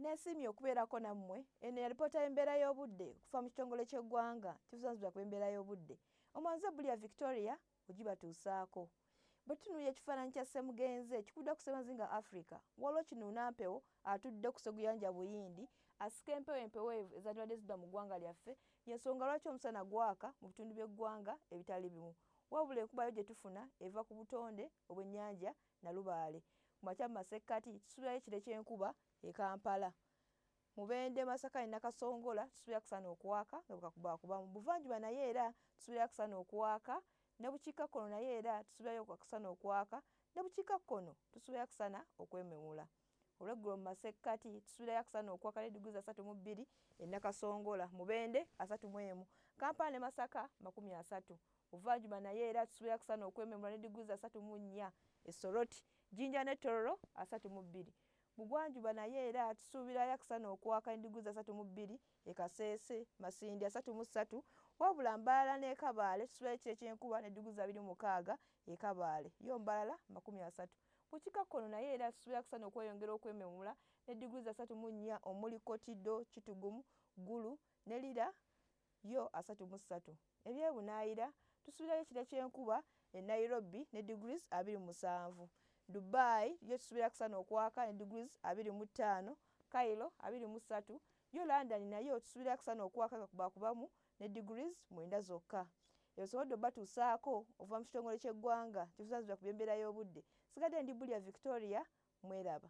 Nesiimye okubeerako nammwe. Eno yalipoota y'embeera y'obudde okuva mu kitongole ky'eggwanga kivuzanzibwa ku embeera y'obudde. Omwanze Bulia Victoria ogibatuusaako. Bwe tutunuulira ekifaananyi kya Ssemugenzi ekikuddwa ku Semazinga Africa, waliwo kinuuna mpewo atudde ku seguyanja Buyindi asika empewo empeweevu ezandibadde zidda mu ggwanga lyaffe y'ensonga lwaki omusana gwaka mu bitundu by'eggwanga ebitali bimu wabula enkubayo gye tufuna eva ku butonde obw'ennyanja Nalubaale, ku makya mu masekkati tusuubirayo ekire ky'enkuba e Kampala. Mubende, Masaka ne Nakasongola tusuubira kusana okwaka nga bwekakubakuba. Mu buvanjuba nayo era tusuubirayo akusana okwaka, ne bukiikakkono nayo era tusuubirayo akusana okwaka, ne bukiikakkono tusuubirayo akusana okwememula. olweggulo mu masekkati tusuubirayo akusana okwakala ediguli za satu mu bbiri enakasongola mubende asatu mu emu kampala ne masaka makumi asatu buvanjuba naye era tusuubirayo akusana okwememula ne diguli za satu mu nnya esoroti jinja ne tororo asatu mu bbiri bugwanjuba naye era tusuubirayo akusana okwaka ne diguli za satu mu bbiri e Kasese, Masindi asatu mu ssatu, wabula Mbarara n'e Kabale kisulayo ky'ekyenkuba n'edduguzi abiri mu mukaaga e Kabale, yo Mbarara makumi asatu. Ku kikakkono nayo era suubira kusana okweyongera okwememula ne diguli asatu mu nnya omuli Kotido, Kitugumu, Gulu ne Lira yo asatu mu ssatu. Ebyebunaayira tusuubirayo ekira ky'enkuba e Nairobi ne diguli abiri mu musanvu. Dubai yo tusuubira kusana okwaka ne diguli abiri mu ttaano, Cairo abiri mu ssatu, Yo London nayo tusubira kusana okuwa kaka kubakubamu ne degrees mwenda zokka. Eyo sobodde obatuusaako okuva mu kitongole ky'eggwanga kitusanzibya ku by'embeera y'obudde. Sigadde ndi Bulya Victoria. Mweraba.